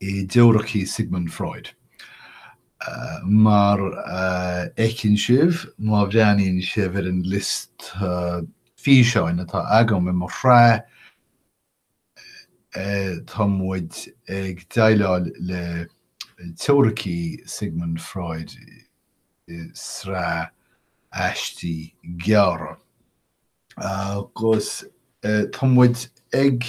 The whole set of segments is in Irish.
i dteoiricí Sigmund Freud. Mar a fheiceann sibh má bhreathnaíonn sibh ar an liosta físeáin atá agam i mo shraith, tá muid ag déileáil le teoiricí Sigmund Freud i sraith aistí gearra. Agus tá muid ag.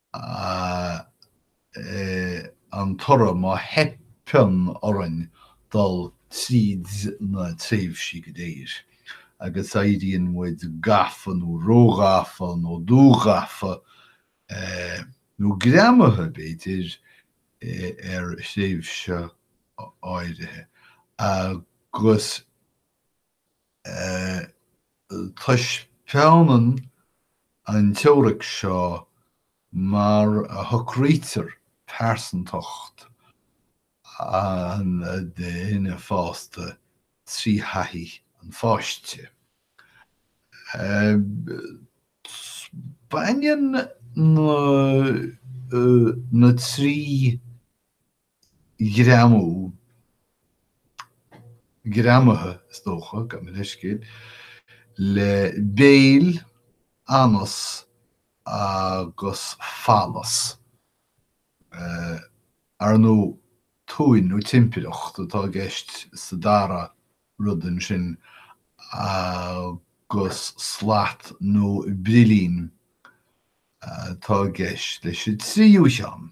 Is é an toradh, má theipeann orainn dul tríd na tréimhsí go léir, agus éiríonn muid gafa nó róghafa nó dúghafa, nó greamaithe, b'fhéidir, ar thréimhse áirithe, agus. Taispeánann an teoiric seo mar a shocraítear pearsantacht an duine fásta trí thaithí an pháiste. Baineann na trí ghreamú, greamaithe, is dócha, gabh mo leithscéal, le béil, anas agus falas. Ar ndóigh, tóin nó timpireacht atá i gceist sa dara rud ansin agus slat nó brillín atá i gceist leis an tríú cheann.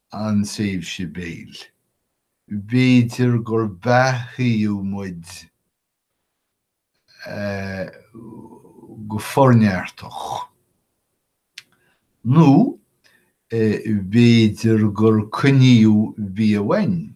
an tréimhse béil, b'fhéidir gur beathaíodh muid go forneartach, nó b'fhéidir gur coinníodh bia uainn,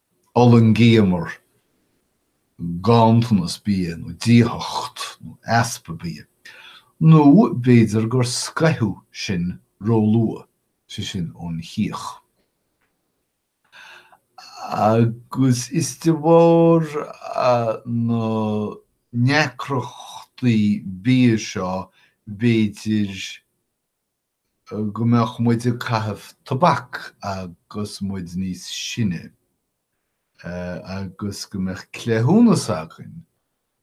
D'fhulaingíomar ganntanas bia nó díothacht nó easpa bia. Nó b'fhéidir gur scoitheadh sinn róluath, sé sin, ón chíoch. Agus is de bharr na ndeacrachtaí bia seo, b'fhéidir, go mbeadh muid ag caitheamh tobac agus muid níos sine agus go mbeadh cleithiúnas againn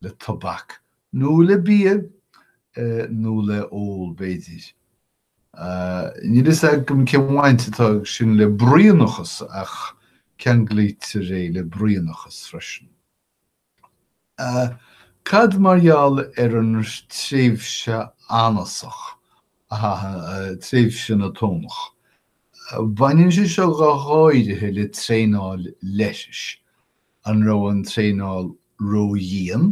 le tobac nó le bia nó le ól b'fhéidir. Níl fhios agam cén bhaint atá ag sin le bruíonachas ach ceanglaítear é le bruíonachas freisin. A, Cad mar gheall ar an tréimhse anasach, tréimhse na tónach? Baineann sé seo go háirithe le traenáil leithris. An raibh an traenáil ró-dhian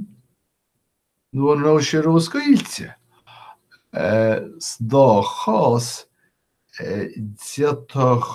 nó an raibh sé ró-scaoilte? Sa dá chás, d'fhéadfadh.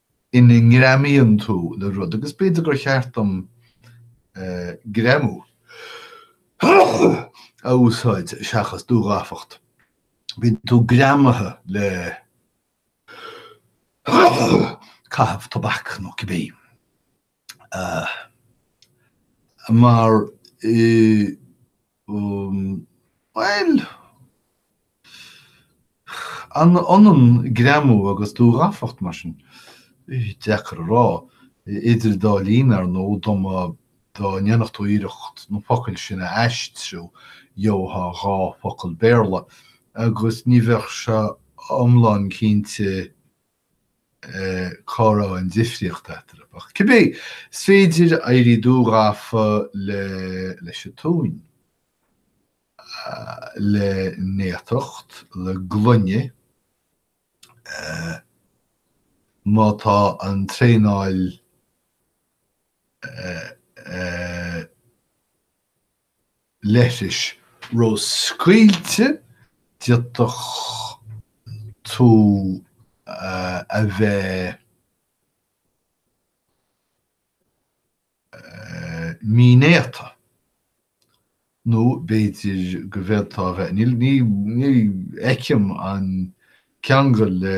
ina ngreamaíonn tú le rud, agus b'fhéidir gur cheart dom greamú a úsáid seachas dúghafacht, bíonn tú greamaithe le caitheamh tobac nó cibé. Mar i. bhuel. an ionann greamú agus dúghafacht mar sin? Deacair a rá. Idir an dá linn, ar ndóigh, dá mba. dá ndéanfadh tú iarracht na focail sin a aistriú, gheobhfá dhá focal Béarla, agus ní bheadh sé iomlán cinnte. cá raibh an difríocht eatarthu. Ach cibé, is féidir éirí dúghafa leis an tóin, le néatacht, le glaine, má tá an traenáil leithris ró-scaoilte, d'fhéadfadh tú a bheith mínéata nó b'fhéidir go bhféadfá a bheith, níl, ní fheicim an ceangal le.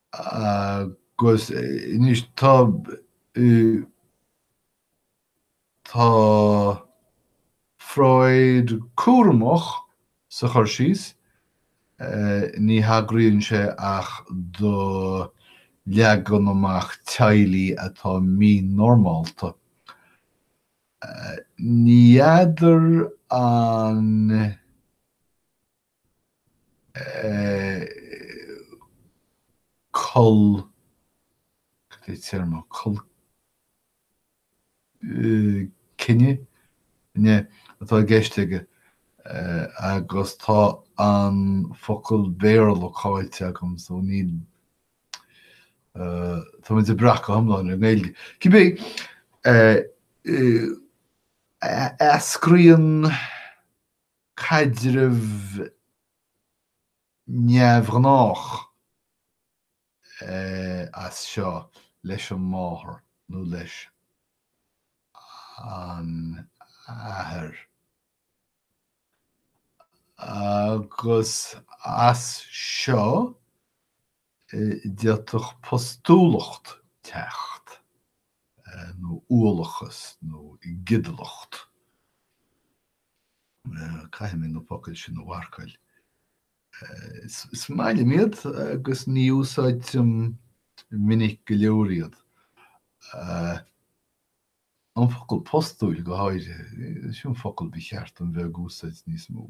Agus anois tá, tá Freud cúramach sa chur síos, ní thagraíonn sé ach do leagan amach teaghlaigh atá mínormálta. Ní fheadar an. col. cad é téarma? col. cine? ne, atá i gceist aige agus tá an focal Béarla caillte agam so níl. tá muid ag brath go iomlán ar an nGaeilge. Cibé, eascraíonn. caidreamh neamhghnách as seo leis an máthair nó leis an athair agus as seo. d'fhéadfadh postúlacht teacht, nó uallachas nó giodalacht, caithfidh mé na focail sin a mharcáil, is maith liom iad agus ní úsáidtim minic go leor iad, an focal postúil go háirithe, sin focal ba cheart dom bheith ag úsáid níos mó.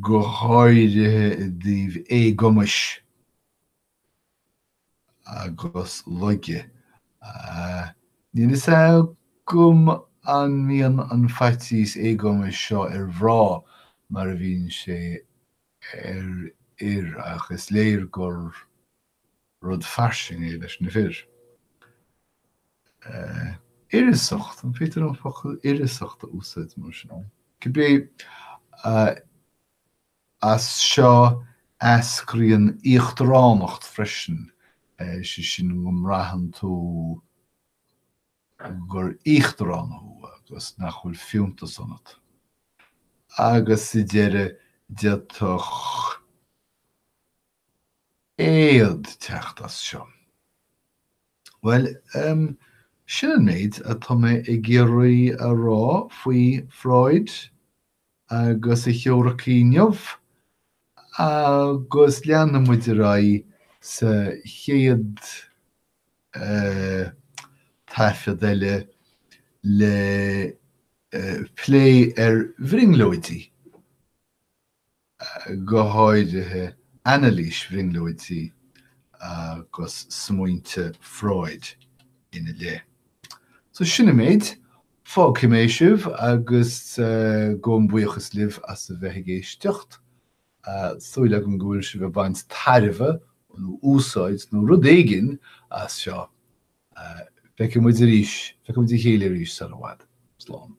go háirithe i dtaobh éagumais agus laige. Níl fhios agam an mbíonn an faitíos éagumais seo ar mhná mar a bhíonn sé ar fhir ach is léir gur. rud fairsing é leis na fir. Uireasacht, an féidir an focal uireasacht a úsáid mar sin? Cibé, as seo eascraíonn íochtaránacht freisin, is é sin go mbraitheann tú gur íochtarán thú agus nach bhfuil fiúntas ionat. Agus sa deireadh, d'fhéadfadh éad teacht as seo. Bhuel, sin an méid atá mé ag iarraidh a rá faoi Freud agus a theoiricí inniu, agus leanfaidh muid ar aghaidh sa chéad taifead eile le plé ar bhrionglóidí. go háirithe anailís bhrionglóidí agus smaointe Freud ina leith. So sin an méid. Fágfaidh mé sibh agus gabhaim buíochas libh as a bheith ag éisteacht. Súil agam go bhfuil sibh ag baint tairbhe nó úsáid nó rud éigin as seo. Feicfidh muid arís, feicfidh muid a chéile arís sara bhfad. Slán.